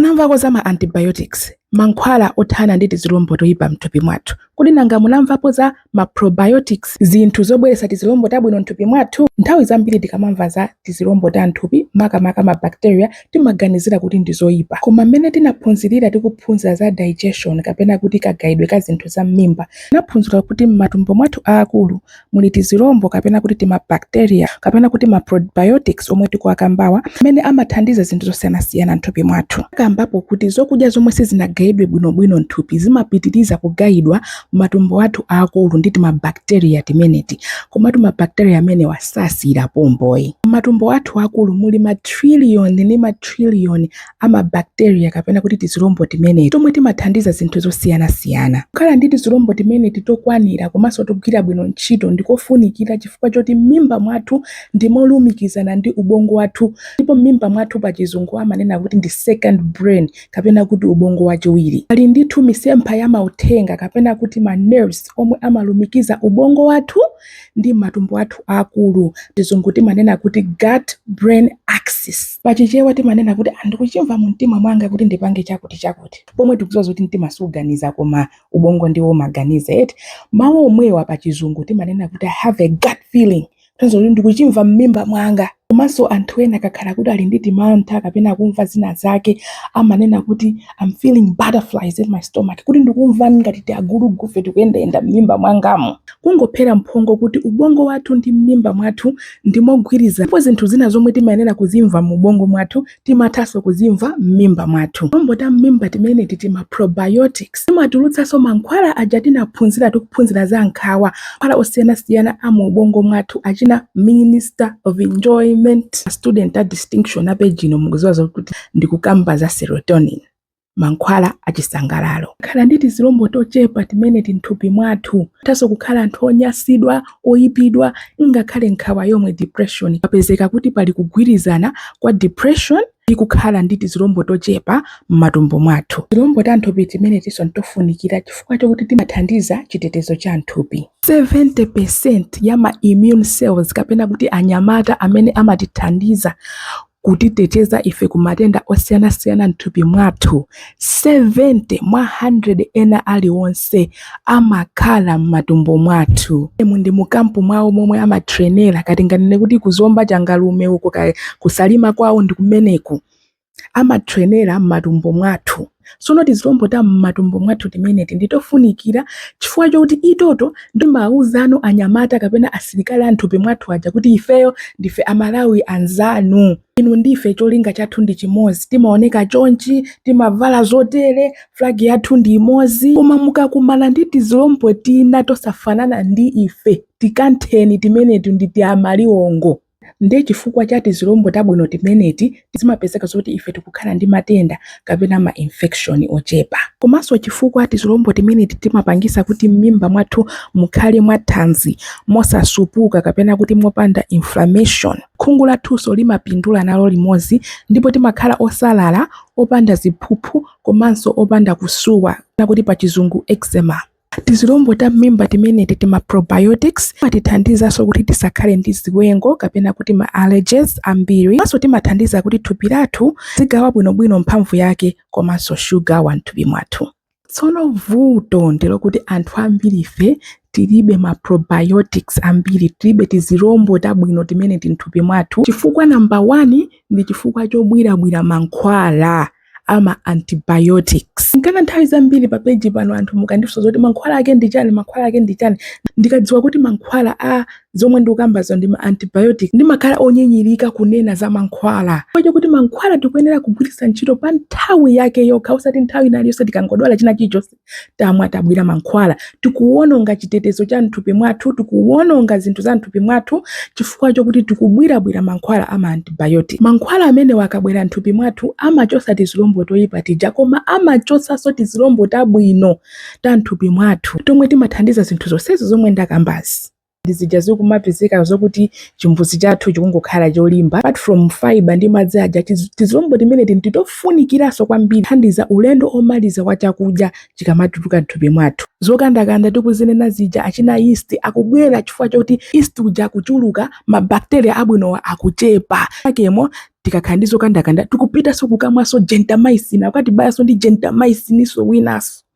Munamvapo za ma antibiotics, mankhwala othana ndi tizilombo toipa m'thupi mwathu? Kodi nanga munamvapo za ma probiotics, zinthu zobweretsa tizilombo tabwino m'thupi mwathu? Nthawi zambiri tikamamva za tizilombo ta m'thupi, makamaka ma bacteria, timaganizira kuti ndi zoipa. Koma mmene tinaphunzirira tikuphunzira za digestion kapena kuti kagayidwe ka zinthu za m'mimba, tinaphunzira kuti m'matumbo mwathu aakulu muli tizilombo kapena kuti tima bacteria kapena kuti ma probiotics omwe tikuwakambawa amene amathandiza zinthu zosiyanasiyana m'thupi mwathu. Takambapo kuti zokudya zomwe sizinagayidwe bwinobwino m'thupi zimapitiriza kugayidwa m'matumbo athu aakulu ndi tima bacteria timeneti. Komatu ma bacteria amenewa sasiyira pompoyi. M'matumbo athu aakulu muli ma trillion ndi ma trillion a mabakteriya kapena kuti tizilombo timeneti tomwe timathandiza zinthu zosiyanasiyana. Kukhala ndi tizilombo timeneti tokwanira komanso togwira bwino ntchito ndi kofunikira chifukwa choti m'mimba mwathu ndi molumikizana ndi ubongo wathu ndipo m'mimba mwathu pachizungu amanena kuti ndi second brain kapena kuti ubongo wachiwiri. Pali ndithu misempha ya mauthenga kapena kuti ma nerves omwe amalumikiza ubongo wathu ndi m'matumbo athu aakulu, pachizungu timanena kuti gut brain axis. Pa Chichewa timanena kuti ah ndikuchimva mumtima mwanga kuti ndipange chakutichakuti. Pomwe tikudziwa zakuti mtima suganiza koma ubongo ndiwo umaganiza eti. Mawu omwewa pa Chizungu timanena kuti I have a gut feeling, kutanthauza kuti ndikuchimva m'mimba mwanga. Komanso anthu ena akakhala kuti ali ndi timantha kapena akumva zina zake amanena kuti I'm feeling butterflies in my stomach, kuti ndikumva ngati tiagulugufe tikuyendayenda m'mimba mwangamu. Kungophera mphongo kuti ubongo wathu ndi m'mimba mwathu ndi mogwirizana ndipo zinthu zina zomwe timayenera kuzimva mu ubongo mwathu timathanso kuzimva m'mimba mwathu. Tizilombo ta m'mimba timeneti tima probiotics timatulutsanso mankhwala aja tinaphunzira tikuphunzira za nkhawa, mankhwala osiyanasiyana a mu ubongo mwathu achina minister of enjoyment. A student a distinction a page ino mukuziwa zokuti ndikukamba za serotonin. mankhwala achisangalalo kukhala ndi tizilombo tochepa timeneti nthupi mwathu tithanso kukhala anthu onyasidwa oyipidwa ngakhale nkhawa yomwe depression zapezeka kuti pali kugwirizana kwa depression ndi kukhala ndi tizilombo tochepa m'matumbo mwathu tizilombo ta nthupi timenetiso ndi tofunikira chifukwa chokuti timathandiza chitetezo cha nthupi 70% ya ma immune cells kapena kuti anyamata amene amatithandiza kutiteteza ife ku matenda osiyanasiyana m'thupi mwathu. 70 mwa 100 ena aliwonse amakhala m'matumbo mwathumu. Ndi mu kampu mwawo momwe amatrenera kaya tinganene kuti ku Zomba Changalume uko kaya ku Salima kwawo ndi kumeneko amatrenera m'matumbo mwathu. Tsono tizilombo ta m'matumbo mwathu timeneti ndi tofunikira chifukwa chokuti ito timawuzano anyamata kapena asilikali a m'thupi mwathu aja kuti ifeyo ndife Amalawi anzanu, inu ndi ife cholinga chathu ndi chimodzi, timaoneka chonchi, timavala zotere, flag yathu ndi imodzi. Koma mukakumana ndi tizilombo tina tosafanana ndi ife, tikantheni timenetu ndi tiamaliwongo. Ndiye chifukwa cha tizilombo tabwino timeneti, zimapezeka zoti ife tikukhala ndi matenda kapena ma infection ochepa. Komanso chifukwa tizilombo timeneti timapangisa kuti m'mimba mwathu mukhale mwa thanzi, mosatupa kapena kuti mopanda inflammation. Khungu lathunso limapindula nalo limodzi ndipo timakhala osalala, opanda ziphuphu komanso opanda kusuwa, kapena kuti pachizungu eczema. Tizilombo ta m'mimba timeneti ti ma probiotics, timatithandizanso kuti tisakhale ndi ziwengo kapena kuti ma allergies ambiri komanso timathandiza kuti thupi lathu lizigawa bwinobwino mphamvu yake komanso shuga wa m'thupi mwathu. Tsono vuto ndi lokuti anthu ambirife tilibe ma probiotics ambiri, tilibe tizilombo tabwino timeneti m'thupi mwathu chifukwa number one ndi chifukwa chobwirabwira mankhwala. a ma antibiotics. Nchifukwa nthawi zambiri pa page pano anthu mukandifunsa zoti mankhwala ake ndi chani, mankhwala ake ndi chani. Ndikadziwa kuti mankhwala a zomwe ndikukambazo ndi ma antibiotic ndimakhala onyinyirika kunena za mankhwala. Chifukwa chakuti mankhwala tikuyenera kugwiritsa ntchito pa nthawi yake yokha osati nthawi ina iliyonse tikangodwala china chilichonse tamwa, tabwira mankhwala tikuwononga chitetezo cha mthupi mwathu tikuwononga zinthu za mthupi mwathu chifukwa chokuti tikubwirabwira mankhwala a maantibiotic mankhwala amenewa akabwera mthupi mwathu amachotsa tizilombo toyipa tija koma amachotsanso tizilombo tabwino ta mthupi mwathu tomwe timathandiza zinthu zonsezi zomwe ndakambazi ndi zija zikumapezeka zokuti chimbuzi chathu chikungokhala cholimba apart from fiber ndi madzi aja tizilombo timeneti nditofunikiraso kwambiri thandiza ulendo omaliza wa chakudya chikamatuluka mthupi mwathu zokandakanda tikuzinena zija achina yeast akubwera chifukwa choti yeast uja akuchuluka mabakteriya abwinowa akuchepa akemo tikakhala ndi zokandakanda tikupitaso kukamwaso gentamicin akatibayenso ndi gentamiciniso winaso